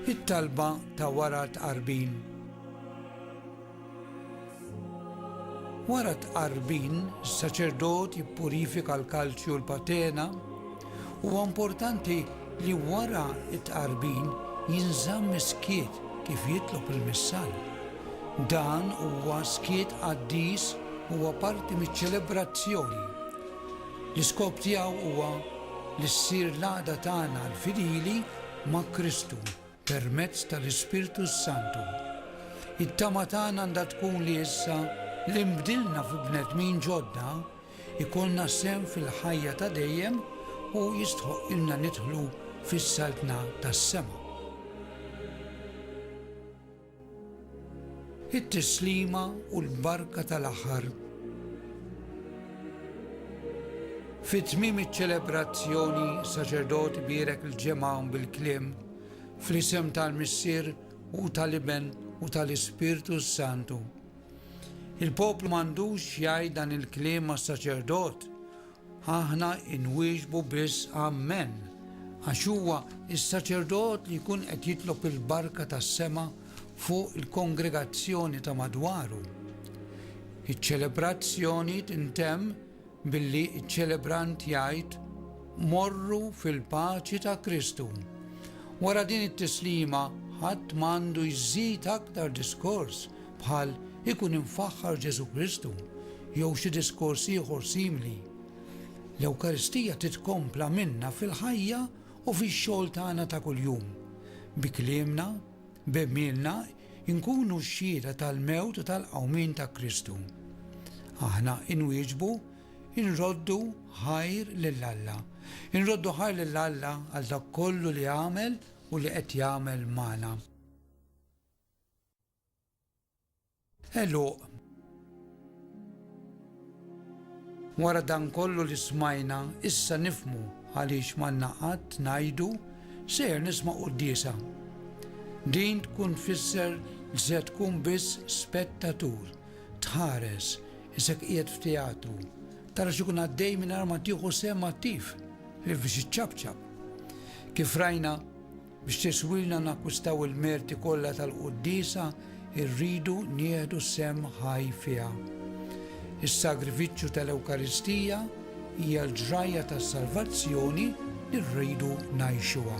It-talba ta' wara t-tqarbin. Wara t-tqarbin, is-saċerdot jippurifika l-kalċi u l-patena. Huwa importanti li wara t-tqarbin jinżamm is-skiet kif jitlob il-missal. Dan huwa skiet qaddis huwa parti miċ-ċelebrazzjoni. L-iskop tiegħu huwa li ssir l-għaqda tagħna l-fidili ma' Kristu permezz tal-Ispirtu s-Santu. It-tama tagħna għandha tkun li issa li nbdilna fi bnedmin ġodda, ikollna sehem fil-ħajja ta' dejjem u jistħoqqilna nidħlu fis-Saltna tas-sema. It-tislima u l-barka tal-aħħar. Fi tmiem iċ-ċelebrazzjoni, saċerdot ibierek il-ġemgħa bil-kliem fl-isem tal-Missier u tal-Iben u tal-Ispirtu Santu. Il-poplu m'għandux jgħid dan il-kliem mas-saċerdot Aħna inwieġbu biss Amen, għax huwa s-saċerdot li jkun qed jitlob il-barka tas-sema fuq il-kongregazzjoni ta' madwaru. Iċ-ċelebrazzjoni tintemm billi ċ-ċelebrant jgħid, Morru fil-paċi ta' Kristu. Wara din it-tislima ħadd m'għandu jżid aktar diskors bħal Ikun imfaħħar Ġesù Kristu jew xi diskors ieħor simili. L-Ewkaristija titkompla minna fil-ħajja u fix-xogħol tagħna ta' kuljum. Bi kliemna, b'għemilna nkunu x-xhieda tal-mewt u tal-qawmien ta' Kristu. Aħna inwieġbu, inroddu ħajr lil Alla. Inroddu ħajr lil Alla għal dak kollu li għamel u li qed jagħmel magħna. Għeluq. Wara dan kollu li smajna, issa nifhmu għaliex m'għandna qatt ngħidu, Sejjer nisma' quddiesa. Din tkun tfisser li se tkun biss spettatur, tħares, isek qiegħed f'teatru, tara x'ikun għaddej mingħajr ma tieħu sehem attiv, ħlief biex iċċapċap. Kif rajna, Biex tiswilna nakkwistaw il-merti kollha tal-quddiesa, irridu nieħdu sehem ħaj fiha. Is-sagrifiċċju tal-Ewkaristija hija l-ġrajja tas-salvazzjoni li rridu ngħixuha.